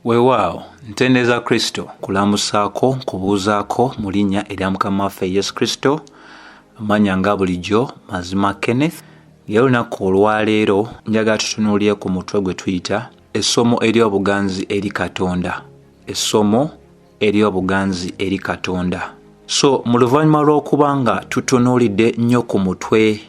weewaawo ntendeeza kristo kulamusaako kubuuzaako mu linnya erya mukama waffe yesu kristo amanya nga bulijjo mazima kenneth era olunaku olwaleero njagala tutunuulire ku mutwe gwe tuyita essomo ery'obuganzi eri katonda essomo eri obuganzi eri katonda so mu luvannyuma lw'okuba nga tutunuulidde nnyo ku mutwe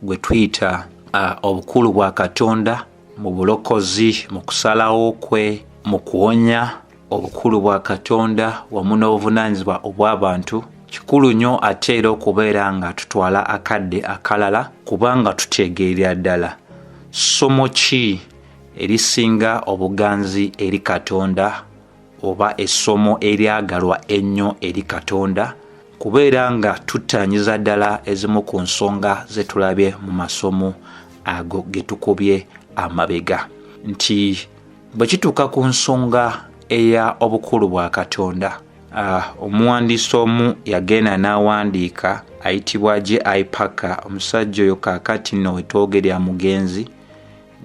gwe tuyita uh, obukulu bwa katonda mu bulokozi mu kusalawo kwe mu kuwonya obukulu bwa katonda wamu n'obuvunaanyizibwa obw'abantu kikulu nnyo ate era okubeera nga tutwala akadde akalala kubanga tutegeerera ddala ssomo ki erisinga obuganzi eri katonda oba essomo eryagalwa ennyo eri katonda kubeera nga tuttaanyiza ddala ezimu ku nsonga ze tulabye mu masomo ago ge tukubye amabega nti bwe kituuka ku nsonga eya obukulu bwa katonda ah, omuwandiisi omu yagenda n'awandiika ayitibwa j i paka omusajja oyo kaakati no wetwogerya mugenzi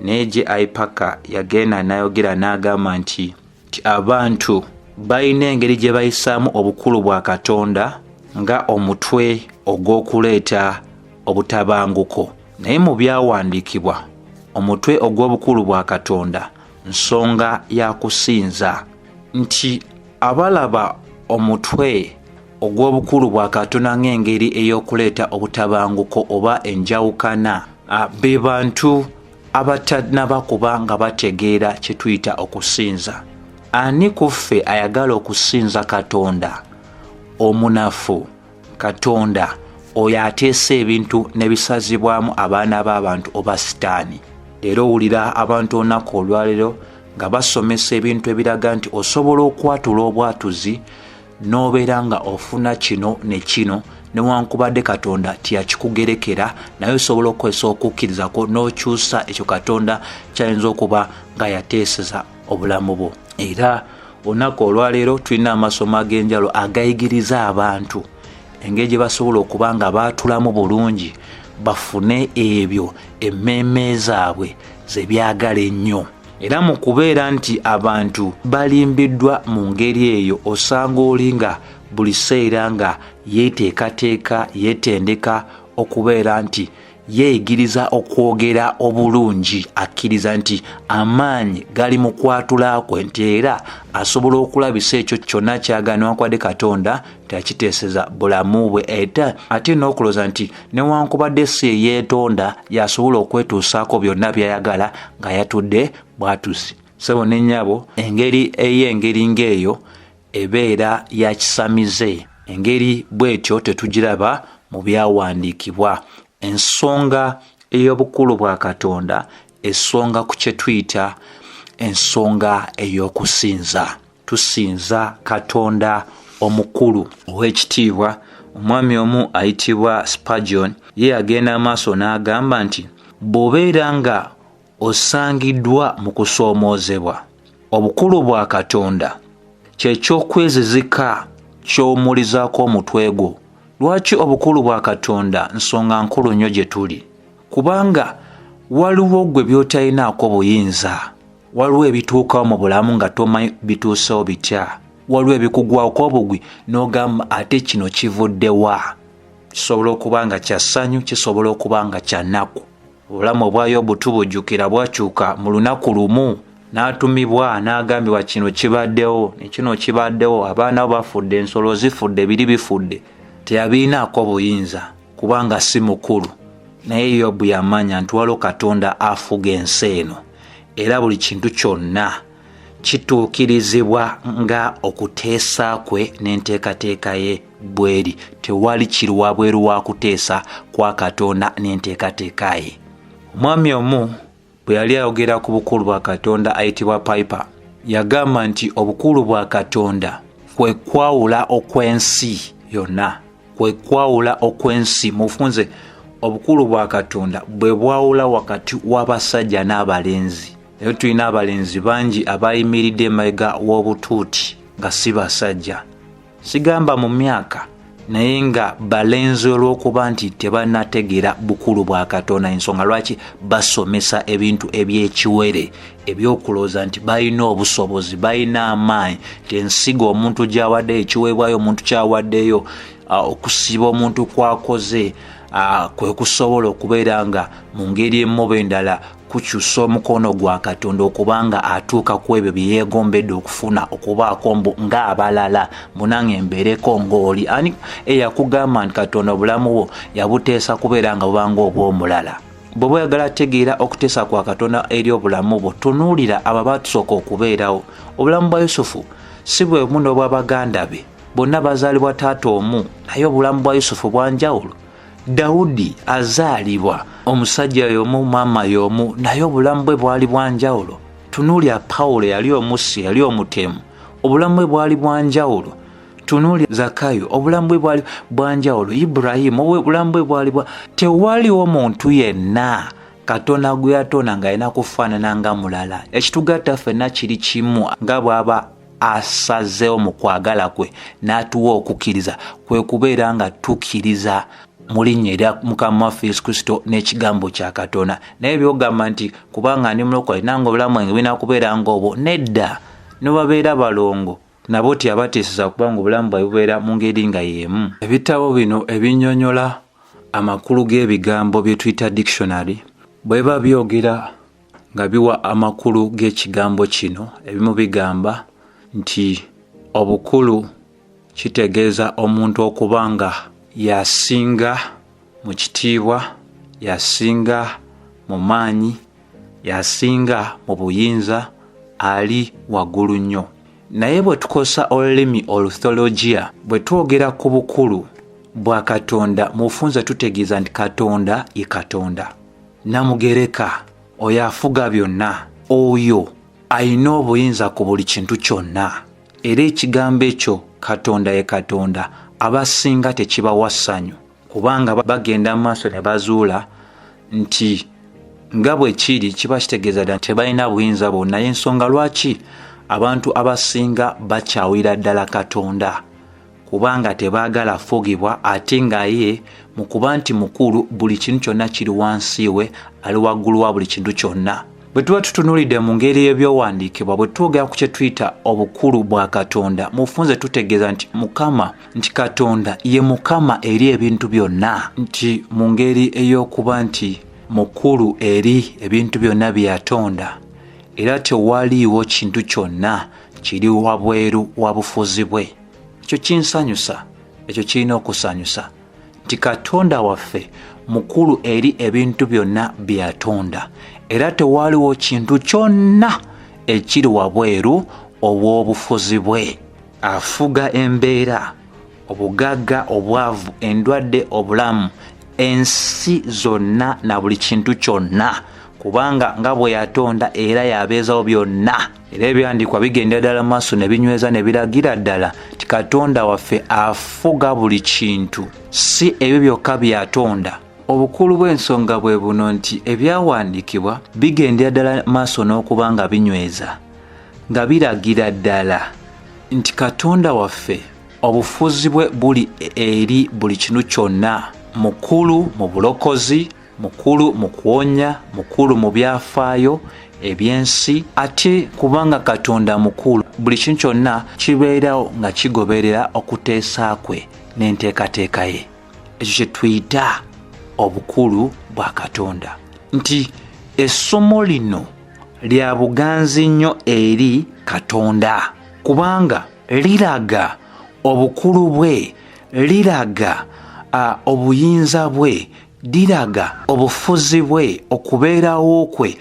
naye j i paka yagenda n'ayogera n'agamba nti nti abantu balina engeri gye bayisaamu obukulu bwa katonda nga omutwe ogw'okuleeta obutabanguko naye mu byawandiikibwa omutwe ogw'obukulu bwa katonda nsonga ya kusinza nti abalaba omutwe ogw'obukulu bwa katonda ng'engeri ey'okuleeta obutabanguko oba enjawukana be bantu abatanaba kuba nga bategeera kyetuyita okusinza ani ku ffe ayagala okusinza katonda omunafu katonda oyo ateesa ebintu nebisazibwamu abaana b'abantu oba sitaani leero owulira abantu olunaku olwalero nga basomesa ebintu ebiraga nti osobola okwatula obwatuzi n'obeera nga ofuna kino ne kino newankubadde katonda tiyakikugerekera naye osobola okukozesa okukkirizako n'okyusa ekyo katonda kyayinza okuba nga yateeseza obulamu bwo era olunaku olwaleero tulina amasomo ag'enjalo agayigiriza abantu engeri gye basobola okuba nga baatulamu bulungi bafune ebyo emmeeme zaabwe ze byagala ennyo era mu kubeera nti abantu balimbiddwa mu ngeri eyo osanga oli nga buli seera nga yeeteekateeka yeetendeka okubeera nti yeeyigiriza okwogera obulungi akkiriza nti amaanyi gali mu kwatula kwe nti era asobola okulabisa ekyo kyonna kyagana wakwadde katonda tekiteeseza bulamu bwe eta ate n'okuloza nti newankubadde si eyeetonda yasobola okwetuusaako byonna byayagala nga yatudde bwatusi sebo ne nnyabo engeri ey'engeri ng'eyo ebeera ya kisamize engeri bw'etyo tetugiraba mu byawandiikibwa ensonga ey'obukulu bwa katonda esonga ku kye tuyita ensonga ey'okusinza tusinza katonda omukulu ow'ekitiibwa omwami omu ayitibwa spagion ye yagenda amaaso n'agamba nti bw'obeera nga osangiddwa mu kusoomoozebwa obukulu bwa katonda kyekyokwezizika ky'omulizaako omutwe gwo lwaki obukulu bwa katonda nsonga nkulu nnyo gye tuli kubanga waliwo gwe byotalinaako buyinza waliwo ebituukawo mu bulamu nga tomanyi bituusewo bitya waliwo ebikugwako obugwi n'ogamba ate kino kivuddewa kisobola okuba nga kya ssanyu kisobola okuba nga kya nnaku obulamu obwayo obutubujjukira bwakyuka mu lunaku lumu n'atumibwa n'agambibwa kino kibaddewo nekino kibaddewo abaana bo bafudde ensolo zifudde biri bifudde teyabirinaako buyinza kubanga si mukulu naye yobu yamanya nti waliwo katonda afuga ensi eno era buli kintu kyonna kituukirizibwa nga okuteesa kwe n'enteekateeka ye bweri tewali kiri wabweru wa kuteesa kwa katonda n'enteekateeka ye omwami omu bwe yali ayogera ku bukulu bwa katonda ayitibwa piper yagamba nti obukulu bwa katonda kwe kwawula okw'ensi yonna kwe kwawula okw'ensi mufunze obukulu bwa katonda bwe bwawula wakati w'abasajja n'abalenzi naye tulina abalenzi bangi abayimiridde emabega w'obutuuti nga si basajja sigamba mu myaka naye nga balenzi olw'okuba nti tebanategeera bukulu bwa katonda ensonga lwaki basomesa ebintu eby'ekiwere ebyokulooza nti balina obusobozi balina amaanyi nti ensigo omuntu gyawadde ekiweebwayo omuntu kyawaddeyo okusiba omuntu kwakoze kwe kusobola okubeera nga mu ngeri emu oba endala kukyusa omukono gwa katonda okuba nga atuuka ku ebyo bye yeegombedde okufuna okubaako mbu ng'abalala munange mbeereko ng'oli ani eyakugamba nti katonda obulamu bwo yabuteesa kubeera nga bubanga obw'omulala bw'oba oyagala ategeera okuteesa kwa katonda eri obulamu bwo tunuulira abo abaatusooka okubeerawo obulamu bwa yusufu si bwe bumu n'obwabaganda be bonna bazaalibwa taata omu naye obulamu bwa yusufu bwanjawulo dawudi azaalibwa omusajja y'omu maama y'omu naye obulamu bwe bwali bwa njawulo tunuulya pawulo yali omussi yali omutemu obulamu bwe bwali bwa njawulo tunuulya zakayo obulamu bwe bwali bwa njawulo iburahimu obulamu bwe bwali bwa tewaliwo muntu yenna katonda gwe yatonda ng'alina kufaanana nga mulala ekitugatta ffenna kiri kimu nga bw'aba asazeewo mu kwagala kwe n'atuwa okukkiriza kwe kubeera nga tukkiriza mu linnya erya mukama waffe yesu kristo n'ekigambo kya katonda naye byogamba nti kubanga ndi mulokole nange obulamu bwange bulina kubeera ngaobwo nedda nebabeera balongo nabo tyabateeseza kubanga obulamu bwae bubeera mu ngeri nga y'emu ebitabo bino ebinyonyola amakulu g'ebigambo bye tuyita dictionary bweba byogera nga biwa amakulu g'ekigambo kino ebimu bigamba nti obukulu kitegeeza omuntu okuba nga yasinga mu kitiibwa yasinga mu maanyi yasinga mu buyinza ali waggulu nnyo naye bwe tukozesa olulimi oluthologiya bwe twogera ku bukulu bwa katonda mu bufunza tutegeeza nti katonda ye katonda namugereka oyo afuga byonna oyo alina obuyinza ku buli kintu kyonna era ekigambo ekyo katonda ye katonda abasinga tekibawa ssanyu kubanga bagenda mu maaso ne bazuula nti nga bwe kiri kiba kitegeeza dda nti balina buyinza bwonna y'ensonga lwaki abantu abasinga bakyawira ddala katonda kubanga tebaagala afugibwa ate nga ye mu kuba nti mukulu buli kintu kyonna kiri wansi we ali waggulu wa buli kintu kyonna bwe tuba tutunulidde mu ngeri y'ebyowandiikibwa bwe twogera ku kye tuyita obukulu bwa katonda mufunze tutegeeza nti mukama nti katonda ye mukama eri ebintu byonna nti mu ngeri ey'okuba nti mukulu eri ebintu byonna bye yatonda era tewaliiwo kintu kyonna kiri wabweru wa bufuzi bwe ekyo kinsanyusa ekyo kirina okusanyusa nti katonda waffe mukulu eri ebintu byonna byeyatonda era tewaaliwo kintu kyonna ekiri wabweru obw'obufuzi bwe afuga embeera obugagga obwavu endwadde obulamu ensi zonna na buli kintu kyonna kubanga nga bwe yatonda era yabeezawo byonna era ebyandiikwa bigenda ddala maaso ne binyweza ne biragira ddala nti katonda waffe afuga buli kintu si ebyo byokka byatonda obukulu bw'ensonga bwe buno nti ebyawandiikibwa bigendera ddala maaso n'okuba nga binyweza nga biragira ddala nti katonda waffe obufuzi bwe buli eri buli kinu kyonna mukulu mu bulokozi mukulu mu kuwonya mukulu mu byafaayo ebyensi ate kubanga katonda mukulu buli kintu kyonna kibeerawo nga kigoberera okuteesa kwe n'enteekateeka ye ekyo kye tuyita obukulu bwa katonda nti essomo lino lya buganzi nnyo eri katonda kubanga liraga obukulu bwe liraga obuyinza bwe Diraga obufuzi bwe okubeerawo kwe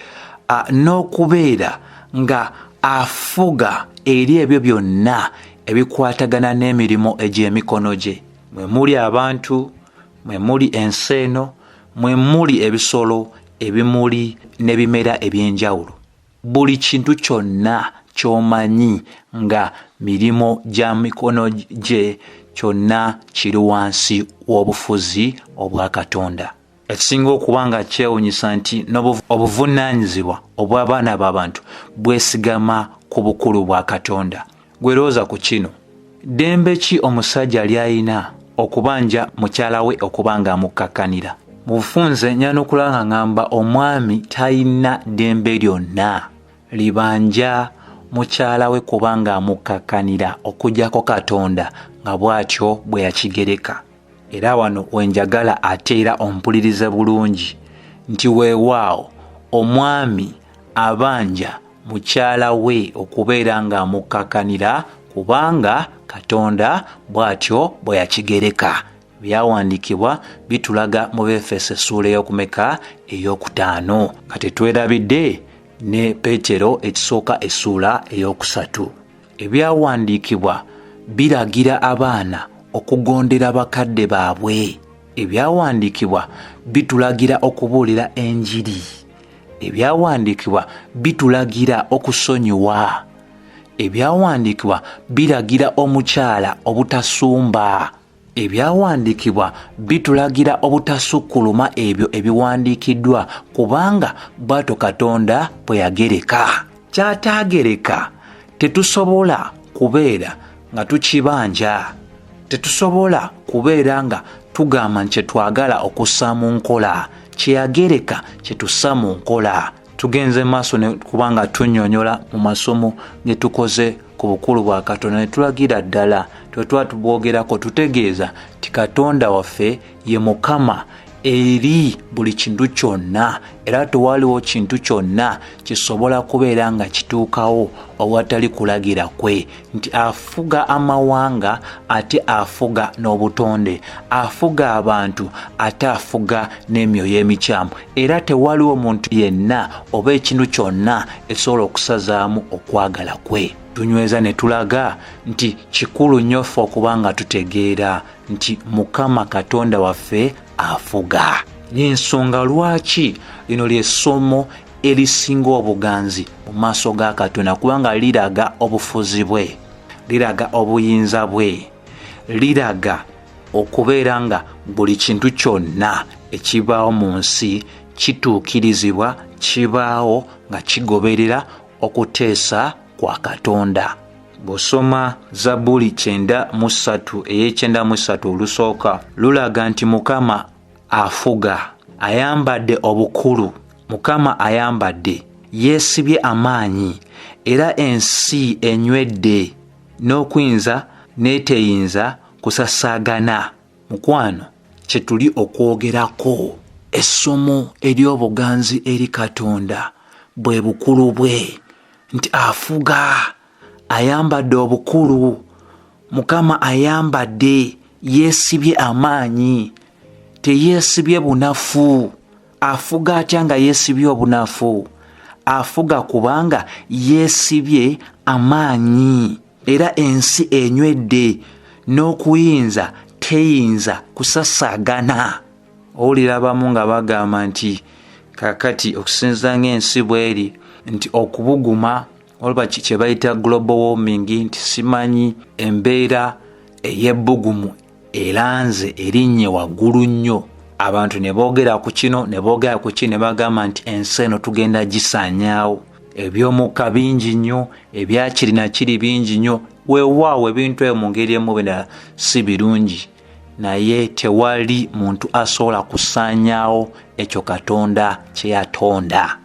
n'okubeera nga afuga eri ebyo byonna ebikwatagana n'emirimu egy'emikono gye mwe muli abantu mwe muli ensi eno mwe muli ebisolo ebimuli n'ebimera eby'enjawulo buli kintu kyonna kyomanyi nga mirimu gya mikono gye kyonna kiri wansi w'obufuzi obwa katonda ekisinga okuba nga kyewunyisa nti n'obuvunaanyizibwa obw'abaana b'abantu bwesigama ku bukulu bwa katonda gwe looza ku kino ddembe ki omusajja ly'alina okubanja mukyala we okuba ng'amukkakkanira mu bufunze nyala n'okula nga ngamba omwami talina ddembe lyonna libanja mukyala we kuba ng'amukkakkanira okujjako katonda nga bw'atyo bwe yakigereka era wano wenjagala ate era ompulirize bulungi nti weewaawo omwami abanja mukyala we okubeera ng'amukkakanira kubanga katonda bw'atyo bwe yakigereka byawandiikibwa bitulaga mu befeso essuula ey'okumeka ey'okutaano nga tetwerabidde ne peetero ekisooka essuula ey'okusatu ebyawandiikibwa biragira abaana okugondera bakadde baabwe ebyawandiikibwa bitulagira okubuulira enjiri ebyawandiikibwa bitulagira okusonyiwa ebyawandiikibwa biragira omukyala obutasumba Ebyawandiikibwa bitulagira obutasukkuluma ebyo ebiwandiikiddwa kubanga bw'atyo Katonda bwe yagereka. Ky'ataagereka tetusobola kubeera nga tukibanja. Tetusobola kubeera nga tugamba nti kye twagala okussa mu nkola kye yagereka kye tussa mu nkola. tugenze maaso kubanga tunyonyola mu masomo getukoze ku bukulu bwa katonda ne tulagira ddala twetwa tubwogerako tutegeeza ti katonda waffe ye mukama eri buli kintu kyonna era tewaliwo kintu kyonna kisobola kubeera nga kituukawo owatali kulagira kwe nti afuga amawanga ate afuga n'obutonde afuga abantu ate afuga n'emyoyo emikyamu era tewaliwo muntu yenna oba ekintu kyonna esobola okusazaamu okwagala kwe tunyweza ne tulaga nti kikulu nnyo ffe okuba nga tutegeera nti mukama katonda waffe afuga y'ensonga lwaki lino lyessomo erisinga obuganzi mu maaso ga katonda kubanga liraga obufuzi bwe liraga obuyinza bwe liraga okubeera nga buli kintu kyonna ekibaawo mu nsi kituukirizibwa kibaawo nga kigoberera okuteesa kwa katonda bw'osoma zabbuli kyenda mu ssatu ey'ekyenda mu ssatu olusooka lulaga nti mukama afuga ayambadde obukulu mukama ayambadde yeesibye amaanyi era ensi enywedde n'okuyinza n'eteyinza kusasaagana mukwano kye tuli okwogerako essomo ery'obuganzi eri katonda bwe bukulu bwe nti afuga ayambadde obukulu mukama ayambadde yeesibye amaanyi teyeesibye bunafu afuga atya nga yeesibye obunafu afuga kubanga yeesibye amaanyi era ensi enywedde n'okuyinza teyinza kusasaagana owulira abamu nga bagamba nti kakati okusinza ng'ensi bweri nti okubuguma olaba kye bayita global warming nti simanyi embeera ey'ebbugumu eranze erinnye waggulu nnyo abantu ne boogera ku kino ne boogera ku ki ne bagamba nti ensi eno tugenda gisaanyaawo eby'omukka bingi nnyo ebyakirina kiri bingi nnyo weewaawo ebintu ebyo mu ngeri emu bendala si birungi naye tewali muntu asobola kusaanyaawo ekyo katonda kye yatonda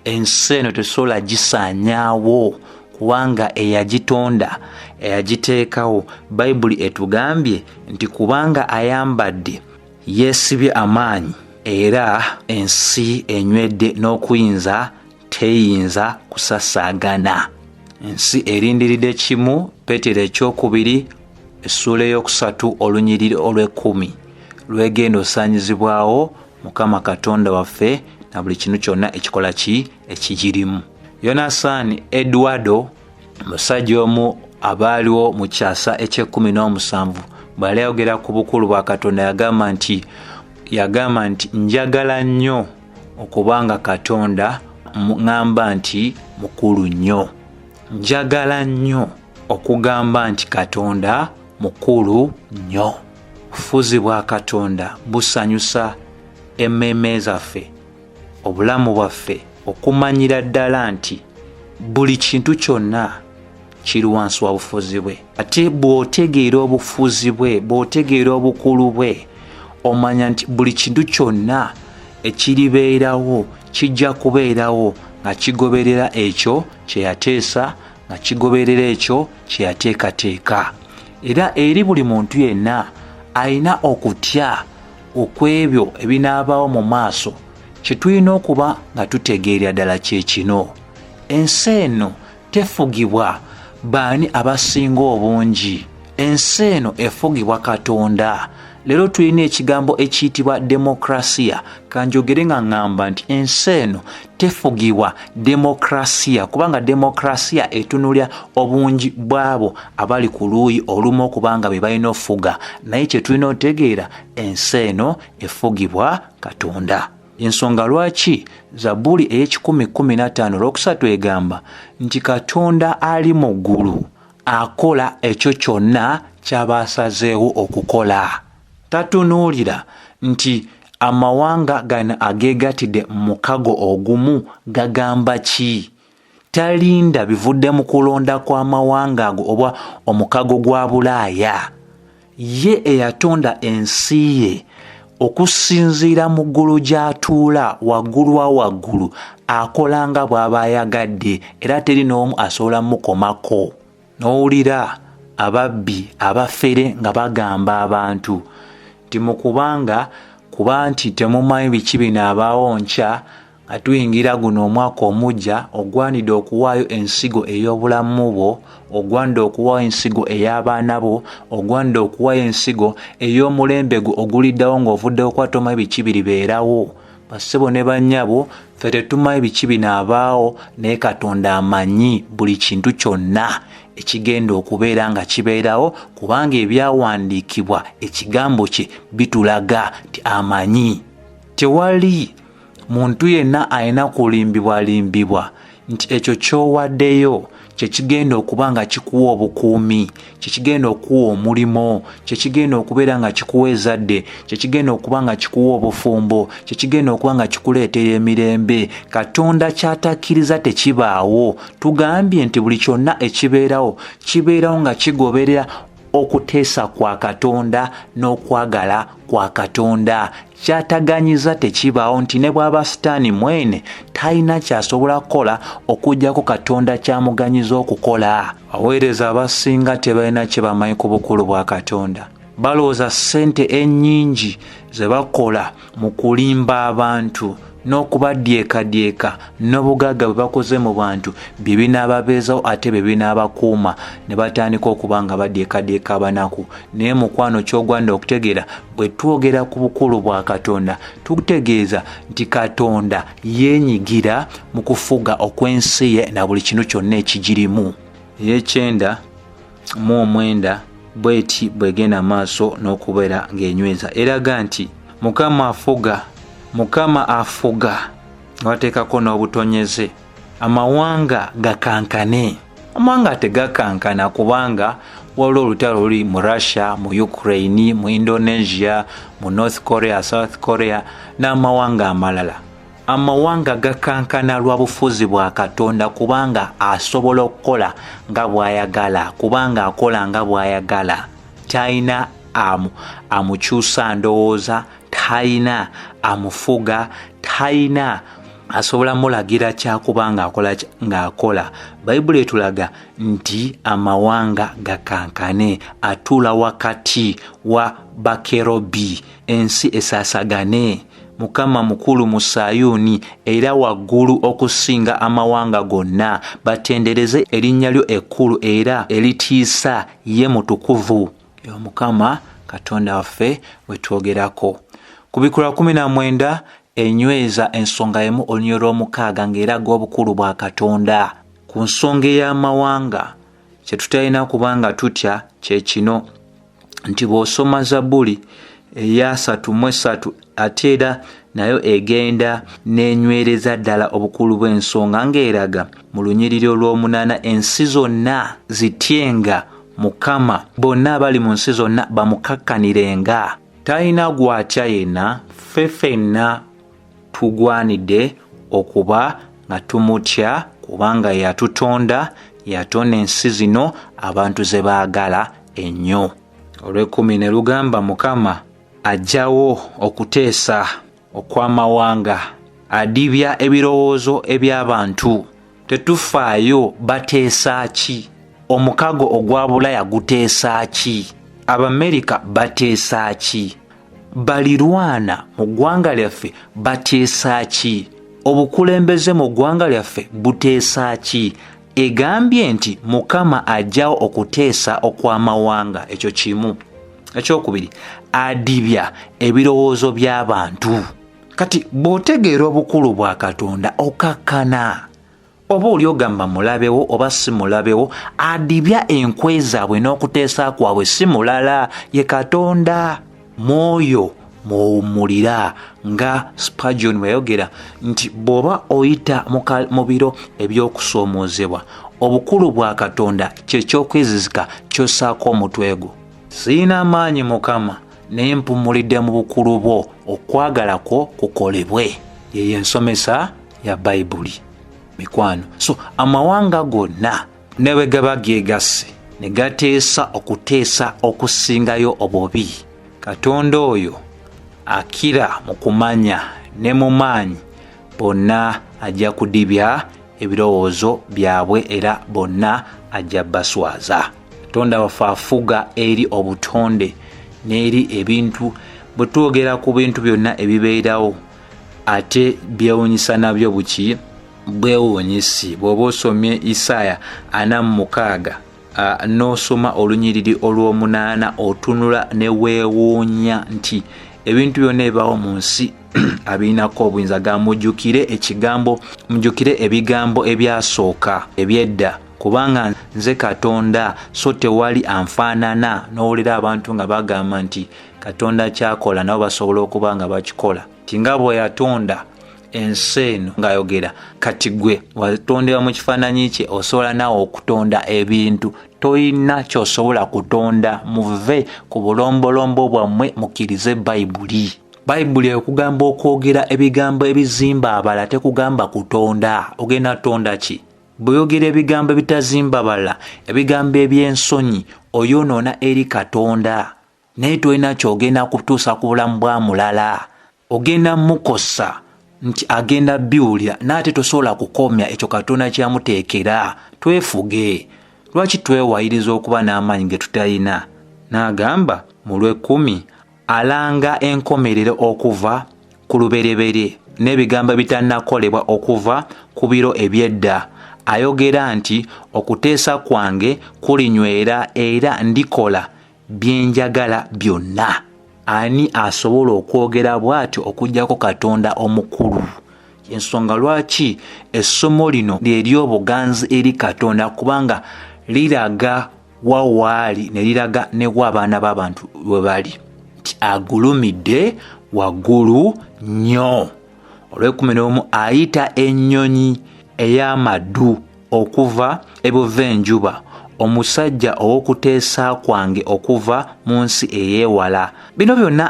ensi eno tesobola gisaanyaawo kubanga eyagitonda eyagiteekawo bayibuli etugambye nti kubanga ayambadde yeesibye amaanyi era ensi enywedde n'okuyinza teyinza kusasaagana ensi erindiridde kimu peetero ekyokubiri essuula ey'okusatu olunyiriri olw'ekkumi lwegenda osaanyizibwawo mukama katonda waffe na buli kintu kyonna ekikola ki ekigirimu yonasaani edwardo musajja omu abaaliwo mu kyasa ekyekumi n'omusanvu bweyali ayogera ku bukulu bwa katonda yagamba nti yagamba nti njagala nnyo okuba nga katonda ŋŋamba nti mukulu nnyo njagala nnyo okugamba nti katonda mukulu nnyo Obufuzi bwa Katonda busanyusa emmeeme zaffe, obulamu bwaffe, okumanyira ddala nti buli kintu kyonna kiri wansi wa bufuzi bwe. Ate bw'otegeera obufuzi bwe, bw'otegeera obukulu bwe, omanya nti buli kintu kyonna ekiribeerawo kijja kubeerawo nga kigoberera ekyo kye yateesa nga kigoberera ekyo kye yateekateeka era eri buli muntu yenna alina okutya okw'ebyo ebinaabaawo mu maaso kye tulina okuba nga tutegeerera ddala kye kino ensi eno tefugibwa baani abasinga obungi ensi eno efugibwa katonda leero tulina ekigambo ekiyitibwa demokrasiya kanjogere nga ŋŋamba nti ensi eno tefugibwa demokrasiya kubanga demokrasiya etunulya obungi bw'abo abali ku luuyi olumu okuba nga be balina ofuga naye kye tulina otegeera ensi eno efugibwa katonda ensonga lwaki zabbuli ey'ekikumi kumi n'ataano olwokusatu egamba nti katonda ali mu ggulu akola ekyo kyonna ky'aba asazeewo okukola tatunuulira nti amawanga gano ageegatide mukago ogumu gagamba ki talinda bivudde mu kulonda kw'amawanga ago oba omukago gwa bulaaya ye eyatonda ensi ye okusinziira mu ggulu gy'atuula waggulu wa waggulu akola nga bw'aba ayagadde era teri n'omu asobola mukomako n'owulira ababbi abafere nga bagamba abantu nti mukubanga kuba nti temumanyi biki bino abaawo nkya nga tuyingira guno omwaka omugya ogwanidde okuwaayo ensigo ey'obulamu bwo ogwanidde okuwaayo ensigo ey'abaana bo ogwanidde okuwaayo ensigo ey'omulembe gwo oguliddawo ng'ovuddewo kuba tomanyi biki biribeerawo basebo ne banyabo fe tetumanyi biki binaabaawo naye katonda amanyi buli kintu kyonna ekigenda okubeera nga kibeerawo kubanga ebyawandiikibwa ekigambo kye bitulaga nti amanyi tewali muntu yenna alina kulimbibwalimbibwa nti ekyo kyowaddeyo kyekigenda okuba nga kikuwa obukuumi kyekigenda okuwa omulimu kyekigenda okubeera nga kikuwa ezadde kyekigenda okuba nga kikuwa obufumbo kyekigenda okuba nga kikuleetera emirembe katonda kyatakkiriza tekibaawo tugambye nti buli kyonna ekibeerawo kibeerawo nga kigoberera okuteesa kwa katonda n'okwagala kwa katonda kyataganyiza tekibaawo nti ne bwaba sitaani mwene talina kyasobola kukola okujjako katonda kyamuganyiza okukola aweereza abasinga tebalina kye bamanyi ku bukulu bwa katonda balowooza ssente ennyingi ze bakola mu kulimba abantu n'okubaddyekadyeka n'obugagga bwe bakoze mu bantu bye binaababeezawo ate bye binaabakuuma ne batandika okuba nga badyekadyeka abanaku naye mukwano ky'ogwanda okutegeera bwe twogera ku bukulu bwa katonda tutegeeza nti katonda yeenyigira mu kufuga okw'ensi ye na buli kintu kyonna ekigirimu eyekyenda mu omwenda bweti bwegenda maaso n'okubeera ng'enyweza eraga nti mukama afuga mukama afuga wateekako n'obutonyeze amawanga gakankane amawanga tegakankana kubanga waliwo olutalo luli mu russia mu ukraine mu indonesia mu north korea south korea n'amawanga amalala amawanga gakankana lwa bufuzi bwa katonda kubanga asobola okukola nga bw'ayagala kubanga akola nga bw'ayagala talina amu amukyusa ndowooza talina amufuga talina asobola mulagira kyakuba ngaakola ng'akola bayibuli etulaga nti amawanga gakankane atuula wakati wa bakerobi ensi esaasagane mukama mukulu mu sayuuni era waggulu okusinga amawanga gonna batendereze erinnya lyo ekkulu era eritiisa ye mutukuvu omukama katonda waffe wetwogerako ku bikula 19 enyweza ensonga emu olunyolo lw'omukaaga ng'eraga obukulu bwa katonda ku nsonga ey'amawanga kye tutalina kuba nga tutya kye kino nti bw'osoma zabbuli eyasatu mu esatu ate era nayo egenda n'enywereza ddala obukulu bw'ensonga ng'eraga mu lunyiriri olw'omunaana ensi zonna zityenga mukama bonna abali mu nsi zonna bamukakkanirenga talina gwatya yenna ffe fenna tugwanidde okuba nga tumutya kubanga yatutonda yatonda ensi zino abantu ze baagala ennyo olw'ekkumi ne lugamba mukama ajjawo okuteesa okw'amawanga adibya ebirowoozo eby'abantu tetufaayo bateesa ki omukago ogwa bulaya guteesa ki abamerika bateesa ki balirwana mu ggwanga lyaffe bateesa ki obukulembeze mu ggwanga lyaffe buteesa ki egambye nti mukama ajjawo okuteesa okw'amawanga ekyo kimu ekyokubiri adibya ebirowoozo by'abantu kati bw'otegeera obukulu bwa katonda okakkana oba oli ogamba mulabewo oba si mulabewo adibya enkwe zaabwe n'okuteesa kwabwe si mulala ye katonda mwoyo mwowummulira nga spagion weyayogera nti bw'oba oyita mu biro eby'okusoomoozebwa obukulu bwa katonda kyeky'okwezizika ky'ossaako omutwe gwo siina amaanyi mukama naye mpummulidde mu bukulu bwo okwagala kwo kukolebwe yeyo ensomesa ya bayibuli mikwano so amawanga gonna newe gaba gegasse ne gateesa okuteesa okusingayo obubi katonda oyo akira mu kumanya ne mu maanyi bonna ajja kudibya ebirowoozo byabwe era bonna ajja baswaza katonda waffe afuga eri obutonde n'eri ebintu bwe twogera ku bintu byonna ebibeerawo ate byewunyisa nabyo buki bwewunyisi bw'oba osomye isaaya ana mumukaaga n'osoma olunyiriri olw'omunaana otunula ne weewuunya nti ebintu byonna ebibawo mu nsi abirinako obuyinza ga mujukire ekigambo mujukire ebigambo ebyasooka ebyedda kubanga nze katonda so tewali anfaanana n'owulira abantu nga bagamba nti katonda kyakola nabo basobola okuba nga bakikola ti nga bwe yatonda ensi eno ngaayogera kati gwe watondebwa mu kifaananyi kye osobola naawe okutonda ebintu tolina kyosobola kutonda muve ku bulombolombo bwammwe mukkirize bayibuli bayibuli ekugamba okwogera ebigambo ebizimba abala tekugamba kutonda ogenda tonda ki bweyogera ebigambo ebitazimba bala ebigambo eby'ensonyi oyonoona eri katonda naye tolina kyogenda kutuusa ku bulamu bwa mulala ogenda mukosa nti agenda biwulira naate tosobola kukomya ekyo katonda kyamuteekera twefuge lwaki twewayiriza okuba n'amaanyi ge tutalina n'agamba mu lw'ekkumi alanga enkomerero okuva ku lubereberye n'ebigambo bitannakolebwa okuva ku biro eby'edda ayogera nti okuteesa kwange kulinywera era ndikola byenjagala byonna ani asobola okwogera bw'atyo okugyako katonda omukulu ensonga lwaki essomo lino lyeryobuganzi eri katonda kubanga liraga wawaali ne liraga newa abaana b'abantu we bali nti agulumidde waggulu nnyo olwekumi n'omu ayita ennyonyi ey'amaddu okuva ebuva enjuba omusajja ow'okuteesa kwange okuva mu nsi ey'ewala bino byonna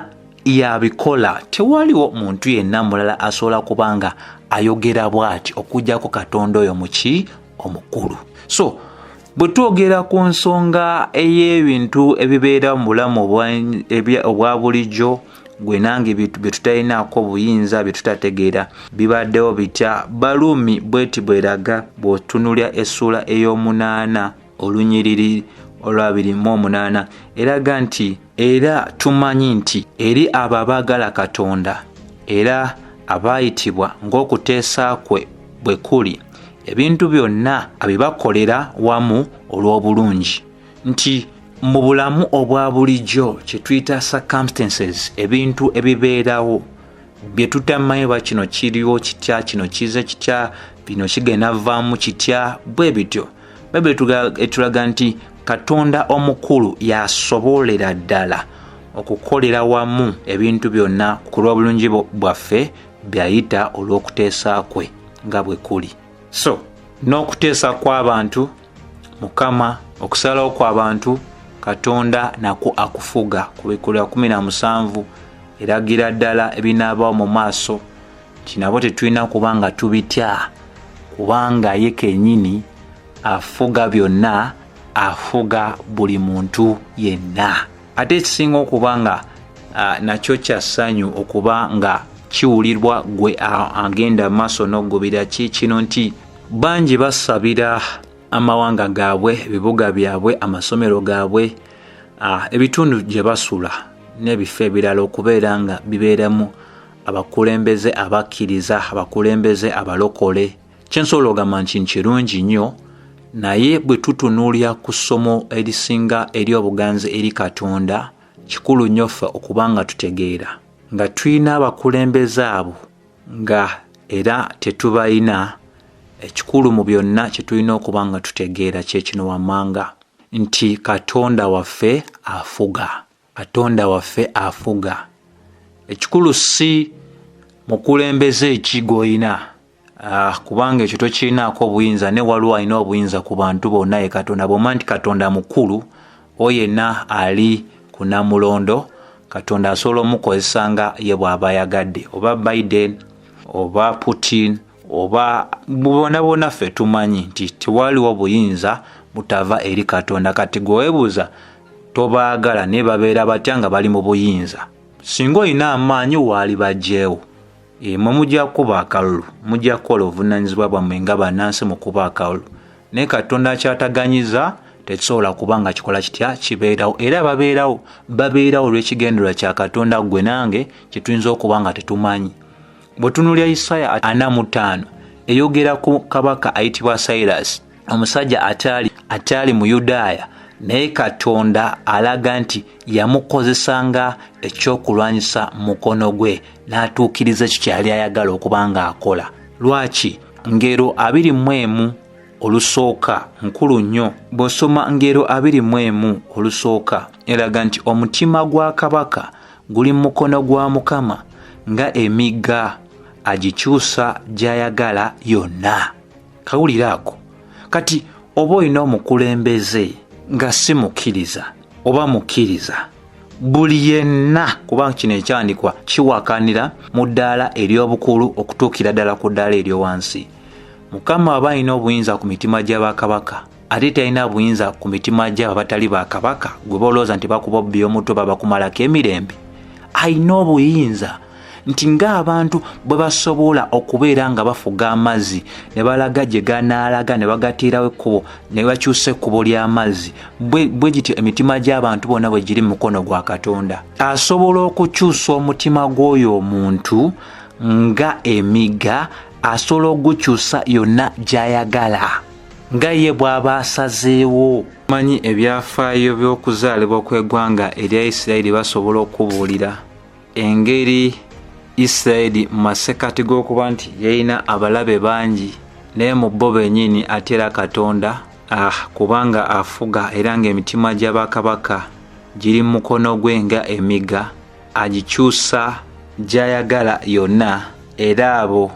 yabikola tewaliwo muntu yenna mulala asobola kuba nga ayogera bw'ati okujjako katonda oyo muki omukulu so bwe twogera ku nsonga ey'ebintu ebibeera mu bulamu obwa bulijjo gwe nange byetutalinaako buyinza byetutategeera bibaddewo bitya baluumi bweti bweraga bw'otunulya essuula ey'omunaana olunyiriri olwabiri mu omunaana eraga nti era tumanyi nti eri abo abaagala katonda era abaayitibwa ng'okuteesa kwe bwe kuli ebintu byonna abibakolera wamu olw'obulungi nti mu bulamu obwa bulijjo kye tuyita circumstances ebintu ebibeerawo bye tutamanyi oba kino kiriwo kitya kino kize kitya bino kigenda vaamu kitya bwe bityo bayibuli etulaga nti katonda omukulu yasobolera ddala okukolera wamu ebintu byonna ku lw'obulungi bwaffe byayita olw'okuteesa kwe nga bwe kuli so n'okuteesa kw'abantu mukama okusalawo kwabantu katonda nakwo akufuga kubikulira 17 eragira ddala ebinaabawo mu maaso kinabo tetulina kuba nga tubitya kubanga ye kenyini afuga byonna afuga buli muntu yenna ate ekisinga okuba nga nakyo kya ssanyu okuba nga kiwulirwa gwe agenda maaso n'okugubira ki kino nti bangi basabira amawanga gaabwe ebibuga byabwe amasomero gaabwe ebitundu gye basula n'ebifo ebirala okubeera nga bibeeramu abakulembeze abakkiriza abakulembeze abalokole kyensobola ogamba nti nkirungi nnyo naye bwe tutunuulira ku ssomo erisinga eri obuganzi eri katonda kikulu nnyo ffe okuba nga tutegeera nga tulina abakulembeze abo nga era tetubalina ekikulu mu byonna kye tulina okuba nga tutegeera kyekino wammanga nti katonda waffe afuga katonda waffe afuga ekikulu si mukulembeze eki gwolina ah, kubanga ekyo tokirinaako obuyinza ne waliwo alina obuyinza ku bantu bonna ye katonda bwoma nti katonda mukulu o yenna ali ku namulondo katonda asobola omukozesa nga ye bw'aba ayagadde oba biden oba putin oba bona bona ffe tumanyi nti tewaliwo buyinza butava eri katonda kati gwewebuuza tobaagala naye babeera batya nga bali mu buyinza singa olina amaanyi waali bajjeewo Eh, mwe mujja kukuba akalulu mujja kukola obuvunaanyizibwa bwammwe nga banansi mukuba akalulu naye katonda akyataganyiza tekisobola kuba nga kikola kitya kibeerawo era babeerawo babeerawo olw'ekigendererwa kya katonda ggwe nange kyetuyinza okuba nga tetumanyi bwe tunulya isaaya ana mu ttaano eyogera ku kabaka ayitibwa sairasi omusajja ataali ataali muyudaaya naye katonda alaga nti yamukozesa nga ekyokulwanyisa mukono gwe n'atuukiriza ekyo kyeyali ayagala okuba nga akola lwaki ngero abiri mu emu olusooka nkulu nnyo bw'osoma ngero abiri mu emu olusooka eraga nti omutima gwa kabaka guli mu mukono gwa mukama nga emigga agikyusa gy'ayagala yonna kawulira ako kati oba olina omukulembeze nga si mukkiriza oba mukkiriza buli yenna kubanga kino ekyandikwa kiwakanira mu ddaala ery'obukulu okutuukira ddala ku ddaala eryowansi mukama aba alina obuyinza ku mitima gy'abakabaka ate talina buyinza ku mitima gyabo abatali ba kabaka gwe balowooza nti bakuba obbi omutwe babakumalako emirembe alina obuyinza nti ng'abantu bwe basobola okubeera nga bafuga amazzi ne balaga gye ganaalaga ne bagateerawo ekkubo ne bakyusa ekkubo ly'amazzi bwe gityo emitima gy'abantu bonna bwe giri mu mukono gwa katonda asobola okukyusa omutima gw'oyo omuntu nga emigga asobola okugukyusa yonna gy'ayagala nga ye bw'aba asazeewo manyi ebyafaayo by'okuzaalibwa kw'egwanga erya isirayiri basobola okubuulira engeri isirayiri mu masekati g'okuba nti yalina abalabe bangi naye mu bo bennyini ate era katonda ah, kubanga afuga era ng'emitima gya bakabaka giri mu mukono gwe nga emiga agikyusa gy'ayagala yonna era abo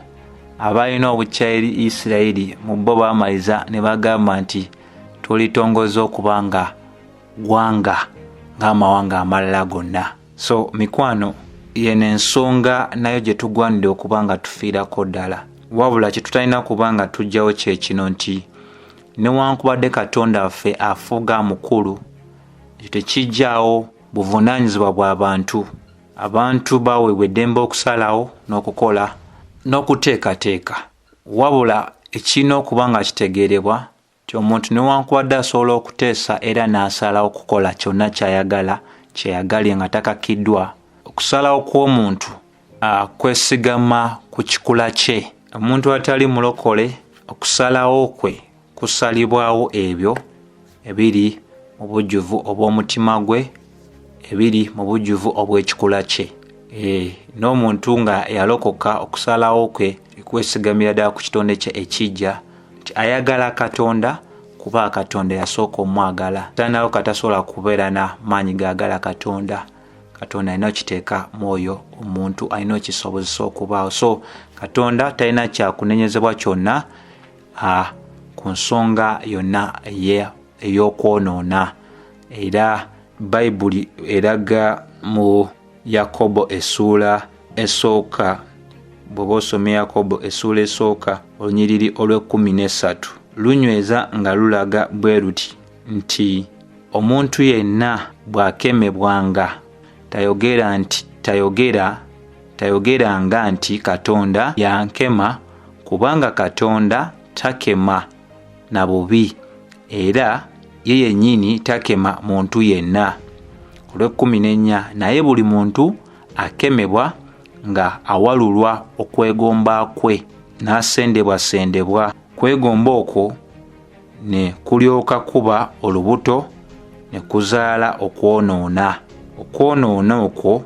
abalina obukya eri isirayiri mu bo baamaliza ne bagamba nti tulitongoza okuba nga ggwanga ng'amawanga amalala gonna so mikwano yeno ensonga nayo gye tugwanidde okuba nga tufiirako ddala wabula kye tutalina kuba nga tugyawo kye kino nti newankubadde katonda waffe afuuga mukulu ekyo tekijjawo buvunaanyizibwa bw'abantu abantu baweebwa eddembe okusalawo n'okukola n'okuteekateeka wabula ekirina okuba nga kitegeerebwa nti omuntu newankubadde asobola okuteesa era n'asalawo okukola kyonna ky'ayagala kyeyagalye nga takakkiddwa okusalawo kw'omuntu kwesigama ku kikula kye omuntu atali mulokole okusalawo kwe kusalibwawo ebyo ebiri mu bujjuvu obw'omutima gwe ebiri mu bujjuvu obw'ekikula kye eh, n'omuntu nga yalokoka okusalawo kwe kwesigamira ddala ku kitonde kye ekijja nti ayagala katonda kuba katonda yasooka omwagala tanawo katasobola kubeera na maanyi gaagala katonda katonda alina okiteeka mwoyo omuntu alina okisobozesa okubaawo so katonda talina kyakunenyezebwa kyonna a ku nsonga yonna ey'okwonoona era bayibuli eraga mu yakobo essuula esooka bw'oba osoma yakobo essuula esooka olunyiriri olw'ekkumi n'essatu lunyweza nga lulaga bwe luti nti omuntu yenna bw'akemebwanga tayogera nti tayogera tayogera nga nti katonda yankema kubanga katonda takema na bubi era ye yennyini takema muntu yenna olw'ekkumi n'ennya naye buli muntu akemebwa nga awalulwa okwegomba kwe n'asendebwasendebwa kwegomba okwo ne kulyoka kuba olubuto ne kuzaala okwonoona okwonoona okwo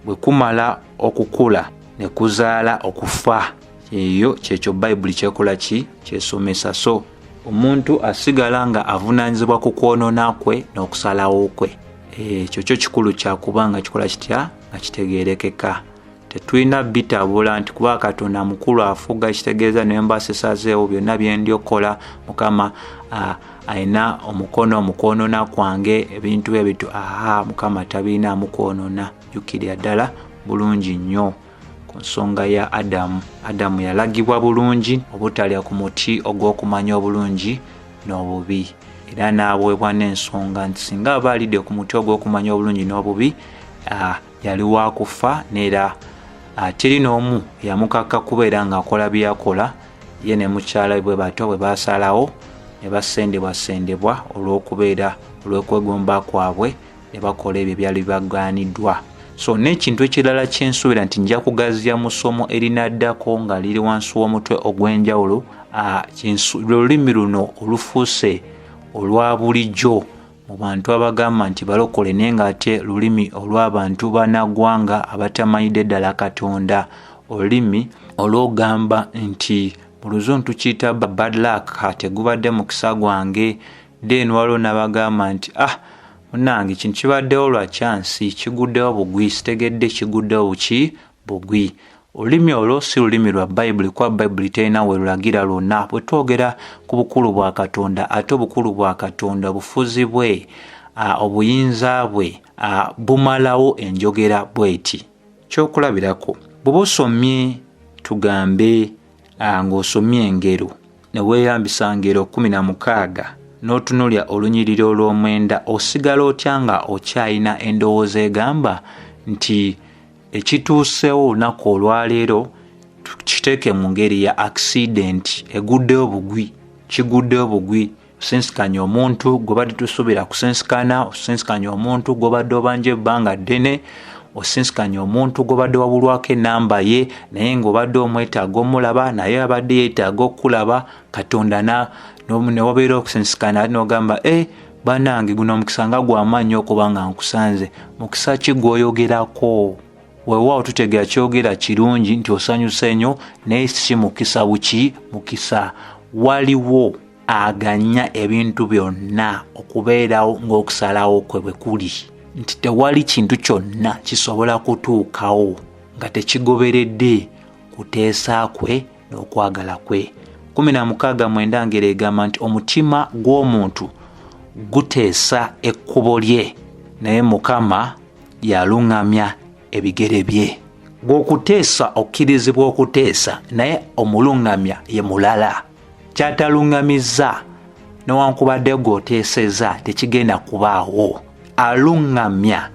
bwe kumala okukula ne kuzaala okufa eyo kyekyo bayibuli kyekola ki kyesomesa so omuntu asigala nga avunaanyizibwa ku kwonoona kwe n'okusalawo kwe ekyo kyo kikulu kyakuba nga kikola kitya nga kitegeerekeka tetulina bitabula nti kuba katonda mukulu afuga ekitegeeza naye mba sisazeewo byonna byendi okukola mukama alina omukono omukwonona kwange ebintu ebito aha mukama tabirina amukwonona jukirira ddala bulungi nnyo ku nsonga ya adamu adamu yalagibwa bulungi obutalya ku muti ogw'okumanya obulungi n'obubi era n'aweebwa n'ensonga nti singa aba alidde ku muti ogw'okumanya obulungi n'obubi yali wa kufa neera ah, teri n'omu yamukakka kubeera ng'akola byeyakola ye ne mukyala bwe batyo bwe basalawo ne basendebwasendebwa olw'okubeera olw'okwegomba kwabwe ne bakola ebyo ebyali bibagaaniddwa so n'ekintu ekirala kyensuubira nti nja kugaziya mu ssomo erinaddako nga liri wansi w'omutwe ogw'enjawulo ah, lwe lulimi luno olufuuse olwa bulijjo mu bantu abagamba nti balokole naye ng'ate lulimi olw'abantu banagwanga abatamanyidde ddala katonda olulimi olwogamba nti mu luzungu tukiyita bad luck tegubadde mukisa gwange then waliwo n'abagamba nti ah munange kino kibaddewo lwa kyansi kiguddewo bugwi sitegedde kiguddewo buki bugwi olulimi olwo si lulimi lwa bayibuli kuba bayibuli terina we lulagira lwonna bwe twogera ku bukulu bwa katonda ate obukulu bwa katonda obufuzi bwe obuyinza bwe bumalawo enjogera bweti kyokulabirako bweba osomye tugambe ng'osomye engero ne weeyambisa ngero kumi na mukaaga n'otunulya olunyiriri olw'omwenda osigala otya nga okyalina endowooza egamba nti ekituuseewo olunaku olwaleero tukiteeke mu ngeri ya akisidenti eguddeyo bugwi kiguddeyo bugwi osensikanya omuntu gwebadde tusuubira kusensikana osensikanya omuntu gwobadde obanja ebbanga ddene osensikanya omuntu gwobadde wabulwako enamba ye naye ngaobadde omwetaaga omulaba naye abadde yetaaga okukulaba katonda newabeera okusensikana nogamba e eh, banange guno omukisa nga gwamaanyi okuba nga nkusanze mukisa ki gwoyogerako wewaawo tutegera kyogera kirungi nti osanyuse nyo naye si mukisa buki mukisa waliwo aganya ebintu byonna okubeerawo ng'okusalawo kwe bwe kuli nti tewali kintu kyonna kisobola kutuukawo nga tekigoberedde kuteesa kwe n'okwagala kwe 16 mwenda ngero egamba nti omutima gw'omuntu guteesa ekkubo lye naye mukama yaluŋŋamya ebigere bye gwokuteesa okkirizibwa okuteesa naye omuluŋŋamya ye mulala kyataluŋŋamizza newankubadde gwoteeseza tekigenda kubaawo aluŋŋamya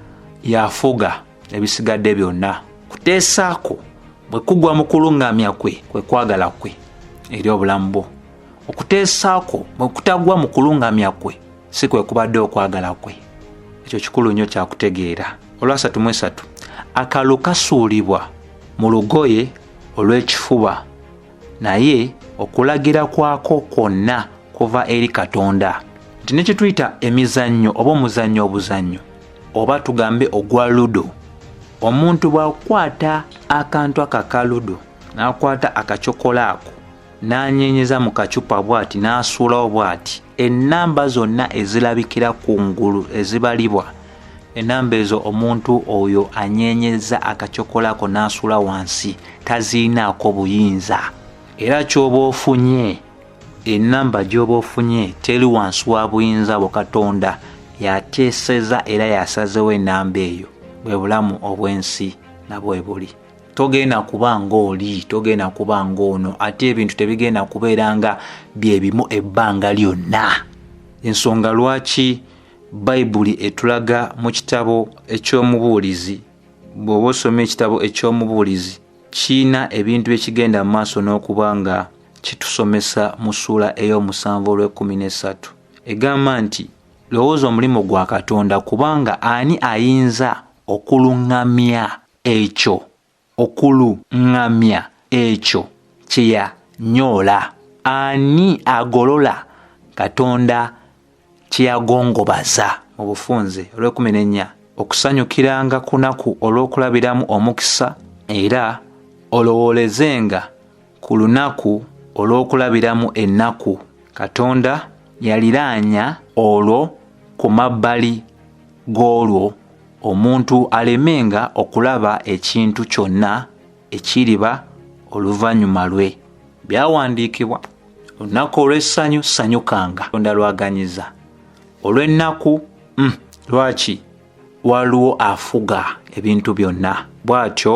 yafuga ebisigadde byonna kuteesaako bwe kugwa mu kuluŋŋamya kwe kwe kwagala kwe eri obulamu bwo okuteesaako bwe kutagwa mu kuluŋŋamya kwe si kwe kubadde okwagala kwe ekyo kikulu nnyo kyakutegeera olwasatu mu esatu akalulu kasuulibwa mu lugoye olw'ekifuba naye okulagira kwako kwonna kuva eri katonda nti ne kye tuyita emizannyo oba omuzannyo obuzannyo oba tugambe ogwa ludo omuntu bwakukwata akantu ako aka ludo nakwata akacokola ako nanyenyeza mu kacupa bwati nasuulawo bwati enamba zonna ezilabikira ku ngulu ezibalibwa enamba ezo omuntu oyo anyenyeza akacokola ako nasuula wansi taziinaako buyinza era kyoba ofunye enamba gyoba ofunye teri wansi wa buyinza bwo katonda yateeseza era yasazewo enamba eyo bwe bulamu obw'ensi nabwe buli togenda kuba ngaoli togenda kuba ngaono ate ebintu tebigenda kubeera nga byebimu ebbanga lyonna ensonga lwaki bayibuli etulaga mu kitabo eky'omubuulizi bw'oba osoma ekitabo eky'omubuulizi kiina ebintu byekigenda mu maaso n'okuba nga kitusomesa mu ssuula ey'omusanvu olw'ekkumi n'essatu egamba nti lowooza omulimu gwa katonda kubanga ani ayinza okuluŋŋamya ekyo okuluŋŋamya ekyo kye yanyoola ani agolola katonda kyeyagongobaza mu bufunze olwekumi nenya okusanyukiranga kunaku olw'okulabiramu omukisa era olowoolezenga ku lunaku olw'okulabiramu ennaku katonda yaliraanya olwo ku mabbali g'olwo omuntu alemenga okulaba ekintu kyonna ekiriba oluvannyuma lwe byawandiikibwa olunaku olw'essanyu sanyukanga tonda lwaganyiza olw'ennaku mm, lwaki waliwo afuga ebintu byonna bw'atyo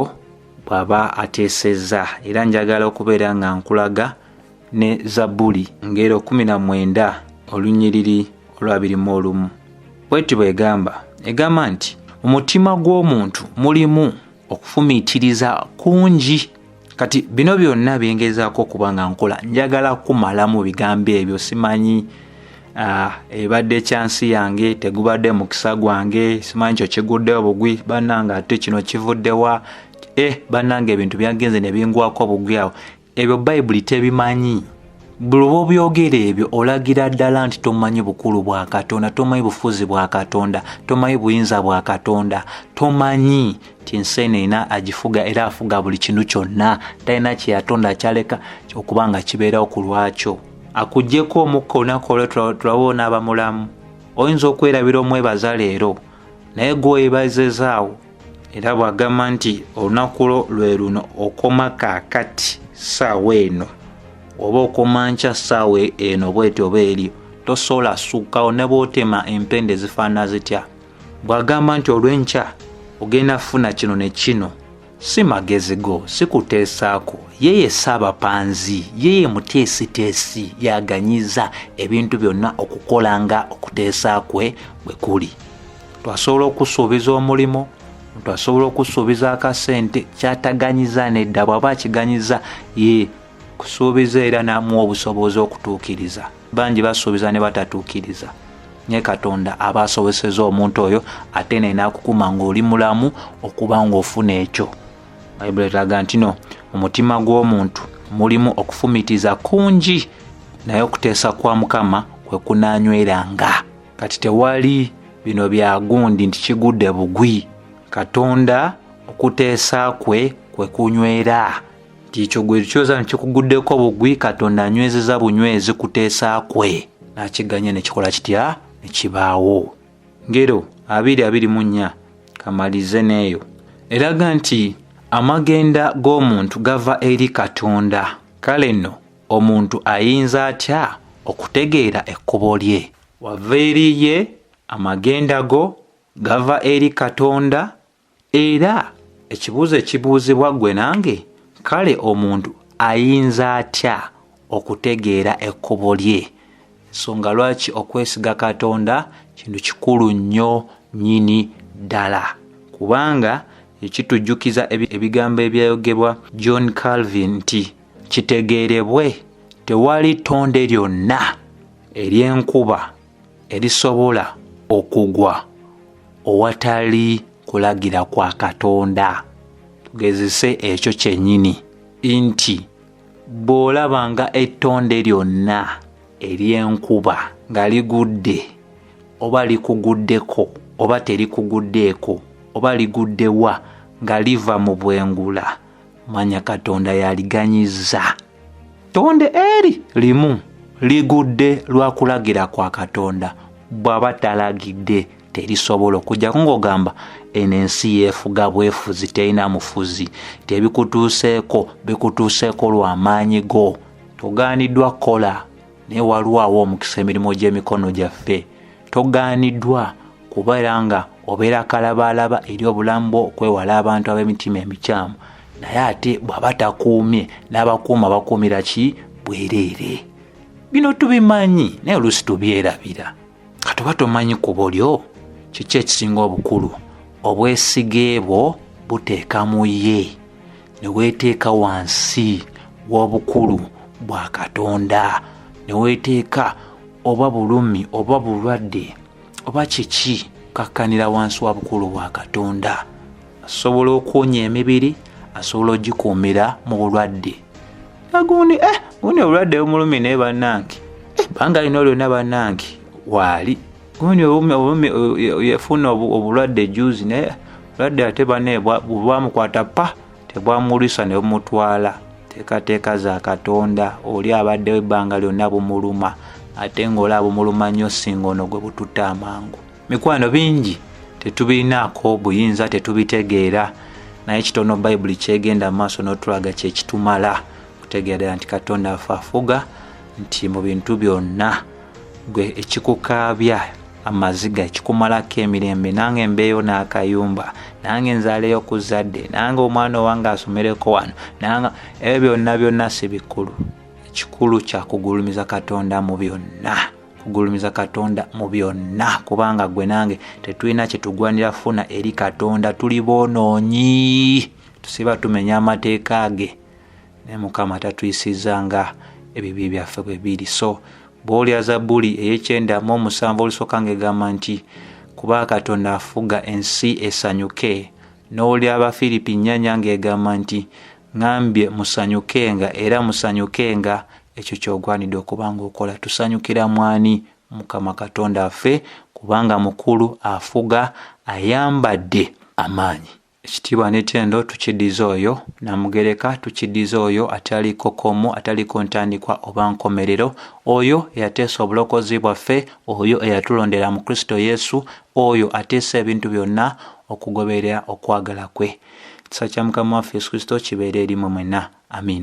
bw'aba ateesezza era njagala okubeera nga nkulaga ne zabbuli ngero 19 olunyiriri olwabirimu olumu bweti bwegamba egamba nti mu mutima gw'omuntu mulimu okufumiitiriza kungi kati bino byonna byengezaako okuba nga nkola njagala kumalamu bigambo ebyo simanyi ah, ebadde ekyansi yange tegubadde mukisa gwange simanyi kyo kiguddewo bugwi bannange ate kino kivuddewa e eh, bannange ebintu byagenze ne bingwako bugwi awo ebyo bayibuli tebimanyi buli bwobyogera ebyo olagira ddala nti tomanyi bukulu bwa katonda tomanyi bufuzi bwa katonda tomanyi buyinza bwa katonda tomanyi ti nseeneina agifuga era afuga buli kintu kyonna talina kyeyatonda akyaleka okuba nga kibeerawo ku lwakyo akugyeko omukka olunaku olwe tulawo onaaba mulamu oyinza okwerabira omwebaza leero naye gweoyebazezaawo era bw'agamba nti olunaku lwo lwe luno okoma kaakati saawa eno oba okoma nkya saawa eno bweti oba eri tosobola sukkawo ne bwotema empenda ezifaana zitya bw'agamba nti olw'enkya ogenda kufuna kino ne kino si magezi go si kuteesaako ye ye ssaabapanzi ye ye muteesiteesi yaganyiza ebintu byonna okukola nga okuteesa kwe bwe kuli muntu asobola okusuubiza omulimu muntu asobola okusuubiza akasente kyataganyiza nedda bwaba akiganyiza ye kusuubiza era namuwa obusobozi okutuukiriza bangi basuubiza ne batatuukiriza naye katonda aba asoboseza omuntu oyo ate nenakukuma ngaoli mulamu okuba ngaofuna ekyo bayibuli etaga nti no mu mutima gw'omuntu mulimu okufumitiza kungi naye okuteesa kwa mukama kwe kunanyweranga kati tewali bino bya gundi nti kigudde bugwi katonda okuteesa kwe kwe kunywera nti ekyo gwe kyoza nti kikuguddeko bugwi katonda anywezeza bunywezi kuteesa kwe n'akiganya ne kikola kitya ne kibaawo ngero abiri abiri mu nnya kamalize n'eyo eraga nti amagenda g'omuntu gava eri katonda kale nno omuntu ayinza atya okutegeera ekkubo lye wava eri ye amagenda go gava eri katonda era ekibuuzo ekibuuzibwa ggwe nange kale omuntu ayinza atya okutegeera ekkubo lye nsonga lwaki okwesiga katonda kintu kikulu nnyo nyini ddala kubanga ekitujjukiza ebigambo ebyayogebwa john calvin nti kitegeerebwe tewali ttonde lyonna ery'enkuba erisobola okugwa owatali kulagira kwa katonda tugezese ekyo kyennyini nti bw'olaba nga ettonde lyonna ery'enkuba nga ligudde oba likuguddeko oba terikuguddeeko oba liguddewa nga liva mu bwengula manya katonda yaliganyizza tonde eri limu ligudde lwa kulagira kwa katonda bw'aba talagidde terisobola okujjako ng'ogamba eno ensi yeefuga bwefuzi terina mufuzi tebikutuuseeko bikutuuseeko lw'amaanyi go togaaniddwa kola naye walwawo omukisa emirimu gy'emikono gyaffe togaaniddwa kubeera nga obeera kalabaalaba eri obulamu bwo okwewala abantu ab'emitima emikyamu naye ate bw'aba takuumye n'abakuuma bakuumira ki bwereere bino tubimanyi naye oluusi tubyerabira kati oba tomanyi ku bulyo kiki ekisinga obukulu obwesige bwo buteeka mu ye ne weeteeka wansi w'obukulu bwa katonda ne weeteeka oba bulumi oba bulwadde oba kiki kakkanira wansi wa bukulu bwa katonda asobola okuwonya emibiri asobola ogikuumira mu bulwadde agundi eh, gundi obulwadde bumulumi naye bannange eh, banga lino lyonna bannange waali gundi obulumi yafuna obulwadde juzi naye obulwadde ate bane bwamukwata pa tebwamulwisa ne bumutwala teekateeka za katonda oli abaddewo ebbanga lyonna bumuluma ate ng'olaba bumuluma nnyo singa ono gwe bututte amangu mikwano bingi tetubirinaako buyinza tetubitegeera naye kitono bayibuli kyegenda maaso n'otulaga kyekitumala okutegeera ddala nti katonda afe afuga nti mu bintu byonna gwe ekikukaabya amaziga ekikumalako emirembe nange mbeeyo n'akayumba nange nzaaleyo ku zadde nange omwana owange asomereko wano nanga ebyo byonna byonna si bikulu ekikulu kyakugulumiza katonda mu byonna kugulumiza katonda mu byonna kubanga gwe nange tetulina kyetugwanira funa eri katonda tuli boonoonyi tusiba tumenya amateeka ge naye mukama tatuyisiza nga ebibi byaffe bwe biri so bwolya zabuli eyekyenda mu omusanvu olusooka nga egamba nti kuba katonda afuga ensi esanyuke n'olya abafiripi nnyanya ng'egamba nti ŋambye musanyukenga era musanyukenga ekyo kyogwanidde okuba ng'okola tusanyukira mwani mukama katonda affe kubanga mukulu afuga ayambadde amaanyi ekitiibwa n'etendo tukidiza oyo namugereka tukidiza oyo ataliko komu ataliko ntandikwa oba nkomerero oyo eyateesa obulokozi bwaffe oyo eyatulondera mu kristo yesu oyo ateesa ebintu byonna okugoberera okwagala kwe kisa kya mukama waffe yesu kristo kibeere erimwe mwena amiina